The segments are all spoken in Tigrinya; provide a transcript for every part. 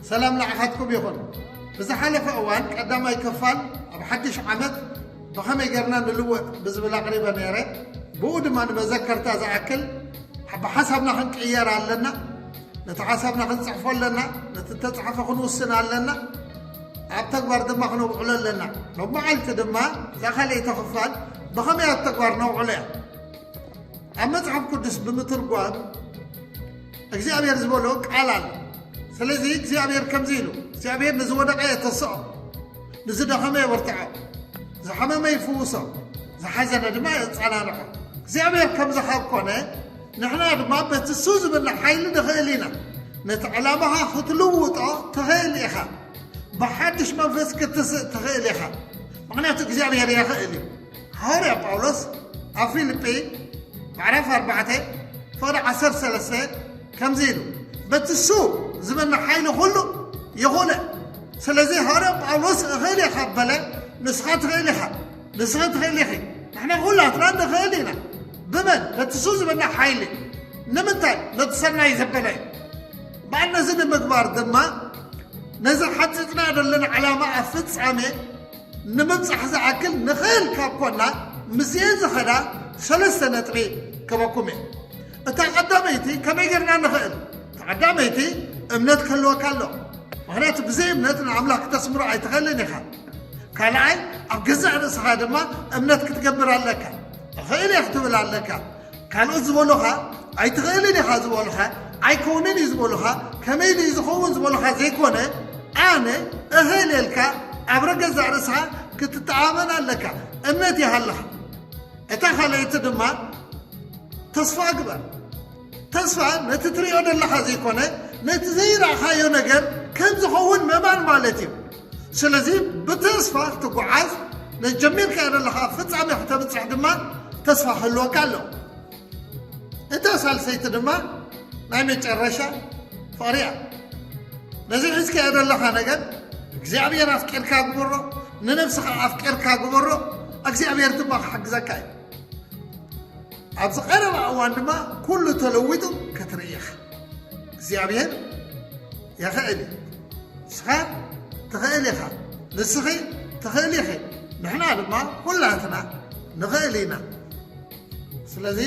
ሰላም ንዓኻትኩም ይኹን። ብዝሓለፈ እዋን ቀዳማይ ክፋል ኣብ ሓድሽ ዓመት ብኸመይ ጌርና ንልወጥ ብዝብል ኣቕሪበ ነይረ። ብኡ ድማ ንመዘከርታ ዝኣክል ኣብ ሓሳብና ክንቅየር ኣለና፣ ነቲ ሓሳብና ክንጽሕፎ ኣለና፣ ነቲ እተጻሕፈ ክንውስን ኣለና፣ ኣብ ተግባር ድማ ክነውዕሎ ኣለና። ሎሚ መዓልቲ ድማ እዛ ካልኣይቲ ክፋል ብኸመይ ኣብ ተግባር ነውዕሎ እያ። ኣብ መጽሓፍ ቅዱስ ብምትርጓም እግዚኣብሔር ዝበሎ ቃል ኣሎ ስለዚ እግዚኣብሔር ከምዚ ኢሉ እግዚኣብሔር ንዝወደቀ የተስኦ ንዝደኸመ የበርትዖ ዝሓመመ ይፍውሶ ዝሓዘነ ድማ የፃናንዖ እግዚኣብሔር ከምዚ ካብ ኮነ ንሕና ድማ በቲ ሱ ዝብለ ሓይሊ ንኽእል ኢና ነቲ ዕላማኻ ክትልውጦ ትኽእል ኢኻ ብሓድሽ መንፈስ ክትስእ ትኽእል ኢኻ ምክንያቱ እግዚኣብሔር የኽእል እዩ ሃዋርያ ጳውሎስ ኣብ ፊልጲ ምዕራፍ ኣርባዕተ ፍቕዲ ዓሰርተ ሰለስተ ከምዚ ኢሉ በቲ እሱ ዝበና ሓይሊ ኩሉ ይኹነ ስለዚ ሃዋርያ ጳውሎስ እኽእል እየ ካብ በለ ንስኻ ትኽእል ኢኻ ንስኻ ትኽእል ኢኺ ንሕና ኩላትና ንኽእል ኢና ብመን በቲ እሱ ዝበና ሓይሊ ንምንታይ ነቲ ሰናይ ዘበለ እዩ በዓል ነዚ ንምግባር ድማ ነዚ ሓፂፅና ዘለና ዕላማ ኣብ ፍፃሜ ንምብጻሕ ዝኣክል ንክእል ካብ ኮና ምስኤን ዝኸዳ ሰለስተ ነጥቢ ክበኩም እየ እታ ቀዳመይቲ ከመይ ጌርና ንክእል ተቀዳመይቲ እምነት ክህልወካ ኣሎ ምክንያቱ ብዘይ እምነት ንኣምላኽ ክተስምሮ ኣይትኽእልን ኢኻ ካልኣይ ኣብ ገዛእ ርእስኻ ድማ እምነት ክትገብር ኣለካ እኽእል እየ ክትብል ኣለካ ካልኦት ዝበሉኻ ኣይትኽእልን ኢኻ ዝበሉኻ ኣይኮንን እዩ ዝበሉኻ ከመይ ድዩ ዝኸውን ዝበሉኻ ዘይኮነ ኣነ እኽእለልካ ኣብ ረገዛእ ርእስኻ ክትተኣመን ኣለካ እምነት ይሃልኻ እታ ካልኣይቲ ድማ ተስፋ ግበር ተስፋ ነቲ ትሪኦ ዘለኻ ዘይኮነ ነቲ ዘይረእኻዮ ነገር ከም ዝኸውን መማን ማለት እዩ ስለዚ ብተስፋ ክትጓዓዝ ነቲ ጀሚርካዮ ዘለኻ ኣብ ፍጻሜ ክተብጽሕ ድማ ተስፋ ክህልወካ ኣሎ እታ ሳልሰይቲ ድማ ናይ መጨረሻ ፍቕሪ እያ ነዚ ሒዝካዮ ዘለኻ ነገር እግዚኣብሔር ኣፍቂርካ ግበሮ ንነብስኻ ኣፍቂርካ ግበሮ እግዚኣብሔር ድማ ክሕግዘካ እዩ ኣብዚ ቀረባ እዋን ድማ ኩሉ ተለዊጡ ክትርኢ ኢኻ እግዚኣብሔር የኽእል እዩ። ንስኻ ትኽእል ኢኻ። ንስኺ ትኽእሊ ኢኺ። ንሕና ድማ ኩላትና ንኽእል ኢና። ስለዚ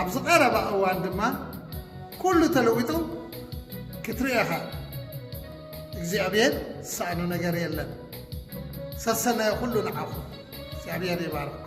ኣብዚ ቀረባ እዋን ድማ ኩሉ ተለዊጡ ክትርኢ ኢኻ። እግዚኣብሔር ዝሰኣኖ ነገር የለን። ሰሰናዩ ኩሉ ንዓኹም። እግዚኣብሔር ይባርኩም።